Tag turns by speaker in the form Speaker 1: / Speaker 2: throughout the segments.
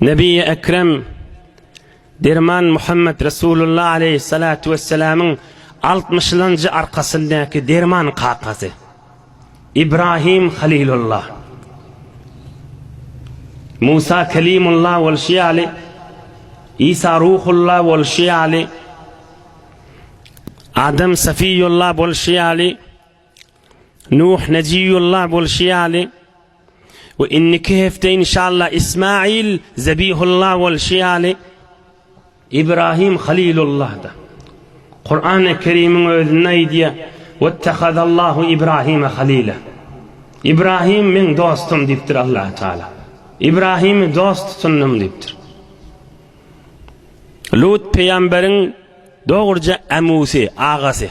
Speaker 1: Nebi Ekrem Derman Muhammed Resulullah aleyhissalatu vesselamyň 60 njy arkasyndaky derman kakasy İbrahim Halilullah Musa Kelimullah bolşy ýaly İsa Ruhullah bolşy ýaly Adam Safiyullah bolşy ýaly Nuh Nejiyullah bolşy ýaly We indiki hepde inşallah Ismail Zebihullah bolşy ýaly Ibrahim Halilullahda. Kur'an-ı Kerim'in özünde aýdýa Wettehadallahu Ibrahime Halila. Ibrahim meň dostum diýipdir Allah Taala. Ibrahimi dost tutundym diýipdir. Lut peýamberiň dogruja ämusy, agasy.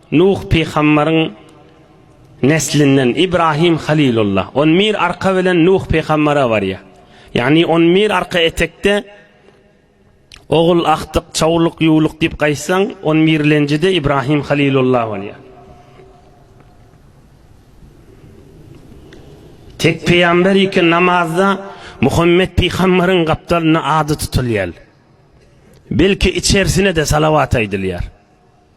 Speaker 1: Nuh pygambaryň neslinden Ibrahim Halilulla on bir arka bilen Nuh pygambara barýar. Ýagny on bir arka etekde Ogul Ahdyk, Çawluk, Ýuwluk diýip gaýtsaň, on birlenjide Ibrahim Halilulla bolýar. Tek pygamber iki namazda Muhammet pygambaryň gapdalynda ady tutulýar. Belki içersine-de salawat aýdylýar.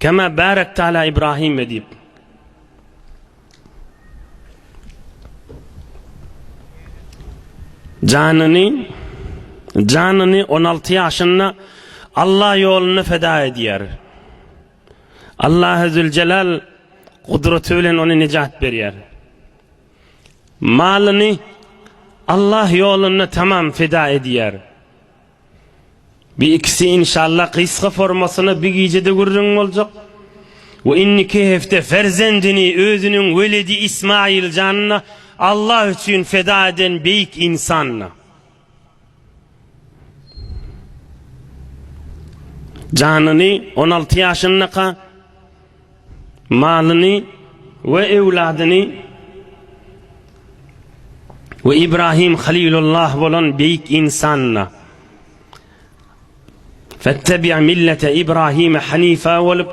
Speaker 1: Kema bärekte ala Ibrahime diýip. Janyny janyny 16 ýaşynda Allah ýolunda feda edýär. Allah Zülcelal gudraty bilen ony nejat berýär. Malyny Allah ýolunda tamam feda edýär. Bu ikisi inşallah gysga formasyna bir gijede gürrüň boljak we indiki hepde perzendini özüniň weledi Ismail janyna Allah üçin feda eden beýik insanyna. Janyny on alty ýaşyndaka. malyny we öwladyny we Ibrahim Halilullah bolan beýik ynsanyna Fettebi' millete Ibrahim hanifa bolup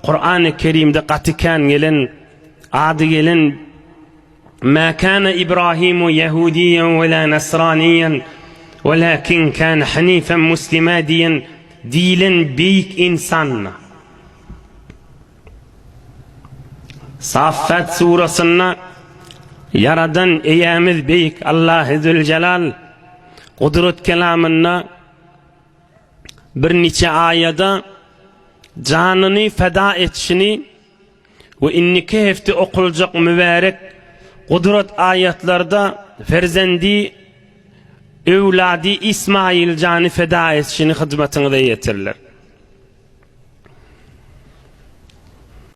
Speaker 1: Kur'an-ı Kerimde gaty kän gelen ady gelen Ma kana Ibrahimu Yahudiyan ve la Nasraniyan walakin kana hanifen muslima diýen diýilen beýik ynsanyna Saffat surasynda Ýaradan Eýämiz Beýik Allahy Züljelal Gudrat kelamynda bir niçe aýada janyny feda etişini we indiki hepde okuljak mübärek Gudrat aýatlarda perzendi Öwlady Ismaýyl jany feda etşini hyzmatyňyza ýetirler.